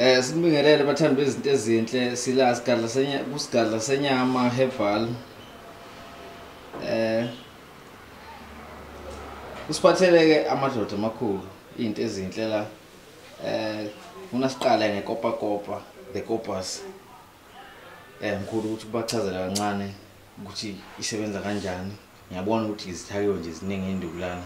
Eh sinibingelele bathandi bezinto ezinhle sila sigadla senya kusigadla senyama herbal. Eh Usiphatheleke amadoda amakhulu izinto ezinhle la. Eh ufuna siqale ngekopa kopa the copas. Eh ngikhulu ukuthi ubachazela kancane ukuthi isebenza kanjani. ngiyabona ukuthi izithakiwe nje ziningi induku lana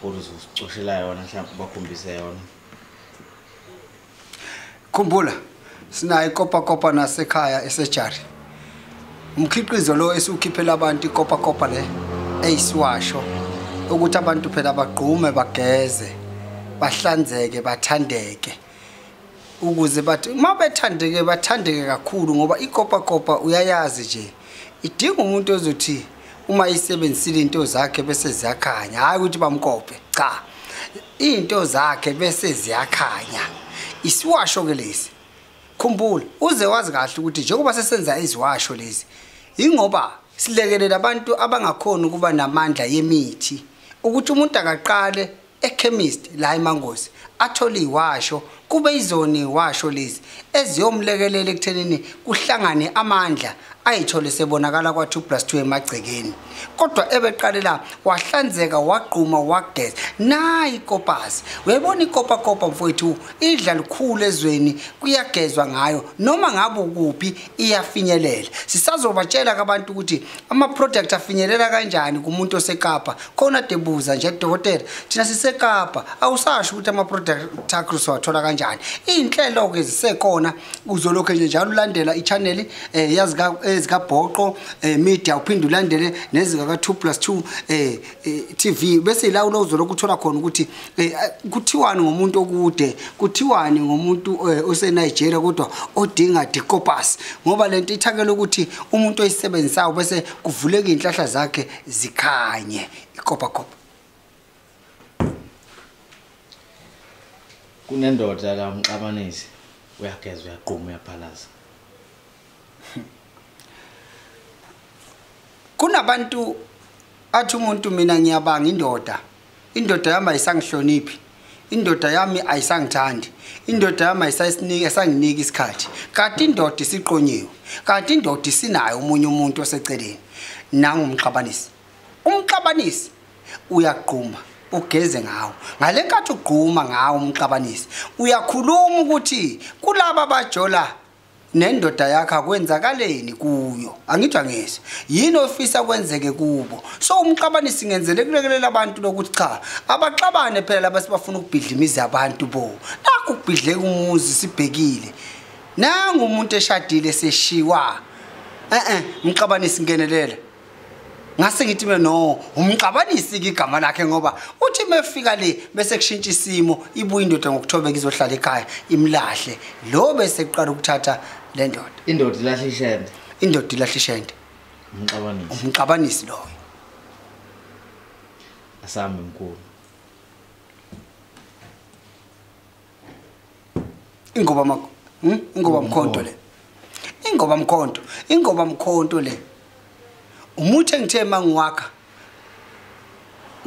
kodwa uzozicoshela yona mhlawumbe ubakhombise yona khumbula sinayo ikopakopa nasekhaya esejari umkhiqizo lo esiwukhiphela abantu ikopakopa le eyisiwasho ukuthi abantu phela bagqume bageze bahlanzeke bathandeke ukuze bathi uma bethandeke bathandeke kakhulu ngoba ikopakopa uyayazi nje idinga umuntu ozothi uma isebenzisile into zakhe bese ziyakhanya hhayi ukuthi bamkope cha iy'nto zakhe bese ziyakhanya isiwasho-ke lesi khumbula uze wazi kahle ukuthi njengoba sesenza iziwasho lezi yingoba silekelela abantu abangakhoni ukuba namandla yemithi ukuthi umuntu akaqale ekhemist la emangosi atholi washo kube izoni washo lezi eziyomlekelela ekuthenini kuhlangane amandla ayithole sebonakala kwa2 plus 2 emagcekeni kodwa ebeqalela wahlanzeka wagquma wageza nayi kopasi uyayibona ikopa kopa mfowethu idla likhulu ezweni kuyagezwa ngayo noma ngabe ukuphi iyafinyelela sisazobatshela kabantu ukuthi ama-product afinyelela kanjani kumuntu osekapa khona debuza nje dokotela thina sisekapa awusasho ukuthi ama-product akho siwathola kanjani iy'nhlelo-ke zisekhona uzolokhu nje njalo ulandela i-channeli um ezikabhoqo um media uphinde ulandele nezikaka-two plus two um Eh, TV bese ila ulozolo kuthola khona ukuthi eh, kuthiwani ngomuntu okude kuthiwani ngomuntu eh, ose Nigeria kodwa odinga dicopus ngoba lento ithakela ukuthi umuntu oyisebenzisayo bese kuvuleka inhlahla zakhe zikhanye ikopa kopa kunendoda la umxabanisi uyageza uyaqhuma uyaphalaza kunabantu athi umuntu mina ngiyabanga indoda indoda yami ayisangihloniphi indoda yami ayisangithandi indoda yami ayisayisiniki esanginiki isikhathi kanti indoda isiqonyiwe kanti indoda isinayo omunye umuntu oseceleni nangumxabanisi umxabanisi uyagquma ugeze ngawo ngale nkathi ugquma ngawo umxabanisi uyakhuluma ukuthi kulaba bajola nendoda yakho akwenzakaleni kuyo angijangise yini ofisa kwenzeke kubo so umxabane singenzele kulekelela abantu lokuthi cha abaxabane phela laba sibafuna ukubhidla imizi yabantu bo nakho ukubhidleka umuzi sibhekile nangu umuntu eshadile seshiwa eh eh mxabane singenelela ngase ngithi mina no umxabanisi igama lakhe ngoba uthi mefika le bese kushintsha isimo ibuye indoda ngokuthobeka izohlala ekhaya imlahle lo bese kuqala ukuthatha le ndoda indoda ilahle ishende indoda ilahle ishende umxabanisi umxabanisi loyo asami mkhulu ingoba ma hmm? ingoba mkhonto le ingoba mkhonto ingoba mkhonto le umuthi engithe mangiwakha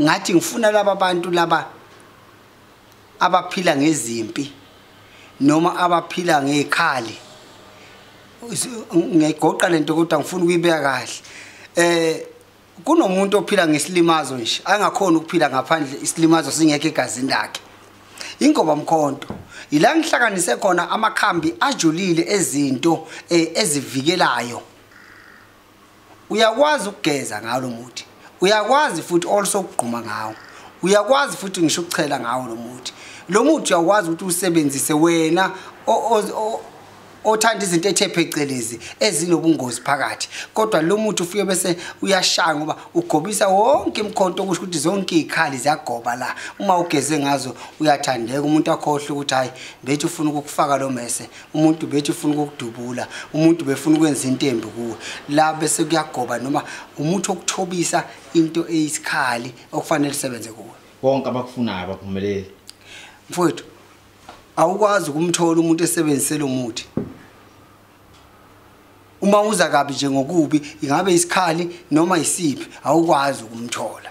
ngathi ngifuna laba bantu laba abaphila ngezimpi noma abaphila ngekhali ngiyayigoqa lento kodwa ngifuna ukuyibeka kahle eh kunomuntu ophila ngesilimazo nje angakhona ukuphila ngaphandle isilimazo singekho egazini lakhe ingoba mkhonto yila ngihlanganise khona amakhambi ajulile ezinto eh, ezivikelayo uyakwazi ukugeza ngawo lo muthi uyakwazi futhi also ukugquma ngawo uyakwazi futhi ngisho ukuchela ngawo lo muthi lo muthi uyakwazi ukuthi usebenzise wena othanda izinto ethe phecelezi ezinobungozi phakathi kodwa lo muthi ufike bese uyashaya ngoba ugobisa wonke imkhonto okusho ukuthi zonke izikhali ziyagoba la uma ugeze ngazo uyathandeka umuntu akhohle ukuthi hayi bethi ufuna ukukufaka lo mese umuntu bethi ufuna ukukudubula umuntu befuna ukwenza intembi kuwe la bese kuyagoba noma umuthi okuthobisa into eyisikhali okufanele sebenze kuwe bonke abakufunayo abaphumeleli mfowethu awukwazi ukumthola umuntu esebenzise lo muthi uma uza kabi nje ngokubi ingabe isikhali noma isiphi awukwazi ukumthola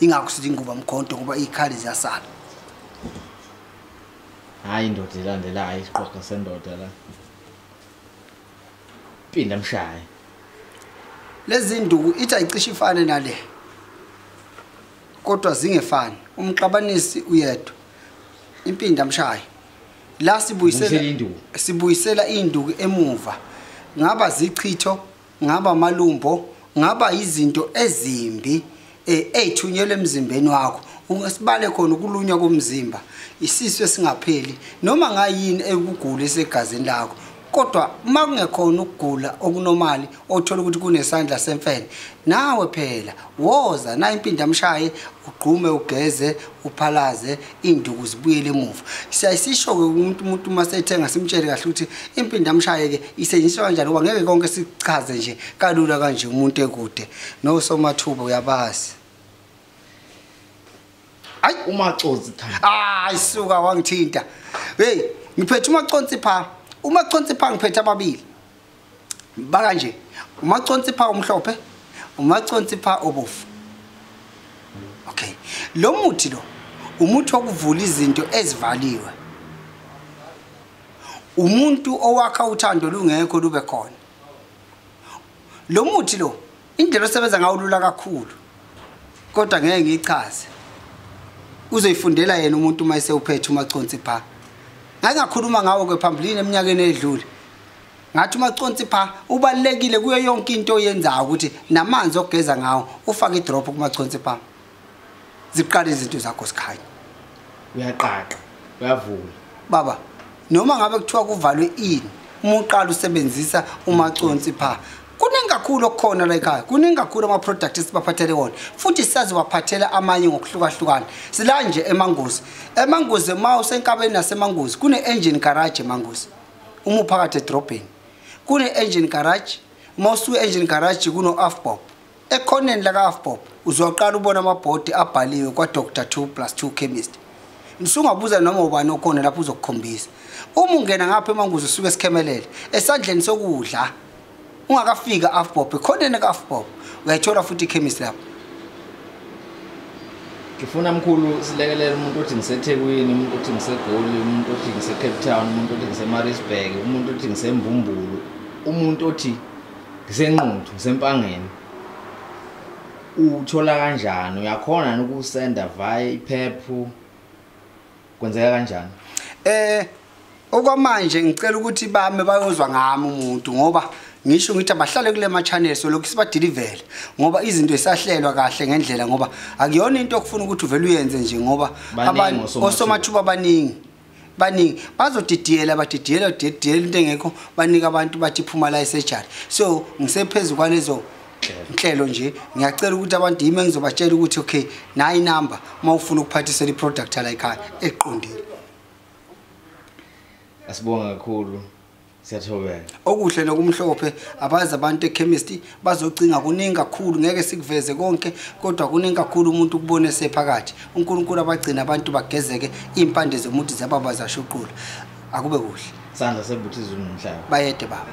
ingakho sithi inguba mkhonto ngoba izikhali ziyasala hayi indoda ilandelayo isiqoqo sendoda la pinda mshaye lezi nduku ithi ayicishe ifane nale kodwa zingefani umxabanisi uyedwa impinda mshayi la sibuyisela sibuyisela induku emuva ngaba zichitho ngaba amalumbo ngaba izinto ezimbi eh, eyithunyelwe emzimbeni wakho ungesibale khona ukulunywa komzimba isisu esingapheli noma ngayini ekugula esegazini lakho kodwa uma kungekhona ukugula okunomali othola ukuthi kunesandla semfene nawe phela woza nayo impinda mshaye ugqume ugeze uphalaze induku zibuyele emuva siyayisisho-ke umuntu umuntu uma sethenga simtshele kahle ukuthi impinda mshaye-ke isetshenziswa kanjani ngoba ngeke konke sichaze nje kalula kanje umuntu ekude nosomathuba uyabazi hayi umaconsi hayi suka wangithinta hey ngiphethe umaconsi pha umaconsi pha ngiphethe ababili baka nje umaconsi pha umhlophe umaconsi pha obofu okay lo muthi lo umuthi wokuvula izinto ezivaliwe umuntu owakha uthando lungekho lube khona lo muthi lo Indlela osebenza ngayo lula kakhulu. Kodwa ngeke ngichaze. Uzoyifundela yena umuntu uma esewuphethe umaconsi pha. Ngake ngakhuluma ngawo ke phambilini eminyakeni edlule. Ngathi umaconsi pha ubalekile kuyo yonke into oyenzayo ukuthi namanzi ogeza ngawo ufaka idrop kumaconsi pha. ziqale izinto zakho sikhaya uyaqaqa uyavula baba noma ngabe kuthiwa kuvalwe ini uma uqala usebenzisa umaconsi pha kuningi kakhulu okukhona la ekhaya kuningi kakhulu ama-product esibaphathele wona futhi sazibaphathela amanye ngokuhlukahlukana sila nje emangozi emangozi uma usenkabeni nasemangozi kune-engine garage emangozi uma uphakathi edrobheni kune-engine garage uma usuke engine garage kuno-afbob ekhoneni laka-afbob uzoqala ubona amabhodi abhaliwe kwa-dr 2 plus 2 chemist msungabuza noma ubani okhona lapho uzokukhombisa uma ungena ngapha emanguzi usuke esikhemelele esandleni sokudla ungakafika afbob ekhoneni ka-afbob uyayithola futhi ikhemist lapho ngifuna mkhulu silekelele umuntu othi ngisethekwini umuntu othi ngisegoli umuntu othi ngisecape town umuntu othi ngisemarisburg umuntu othi ngisemvumbulu umuntu othi ngisenquthu ngisempangeni uthola kanjani uyakhona yini ukusenda via iphephu kwenzeka kanjani eh okwamanje ngicela ukuthi bame bayozwa ngami umuntu ngoba ngisho ngithi abahlale kule ma-channel so lokhu sibadilivele ngoba izinto zisahlelwa kahle ngendlela ngoba akuyona into okufuna ukuthi uvele uyenze nje ngoba osomathuba abaningi baningi bazodidiyela badidiyela didiyela into engekho banika abantu bathi phuma la esurgery so ngisephezulu kwalezo inhlelo nje ngiyacela ukuthi abantu yimi engizobatshela ukuthi okay nayi number uma ufuna ukuphathisela iproduct la ekhaya eqondile asibonga kakhulu Siyathobeka. Okuhle nokumhlophe abazi abantu echemistry bazocinga kuningi kakhulu ngeke sikuveze konke kodwa kuningi kakhulu umuntu ukubone sephakathi. UNkulunkulu abagcina abantu bagezeke impande zomuntu zababa zashuqula. Akube kuhle. Sandla sebuthizo nomhlaba. Bayede baba.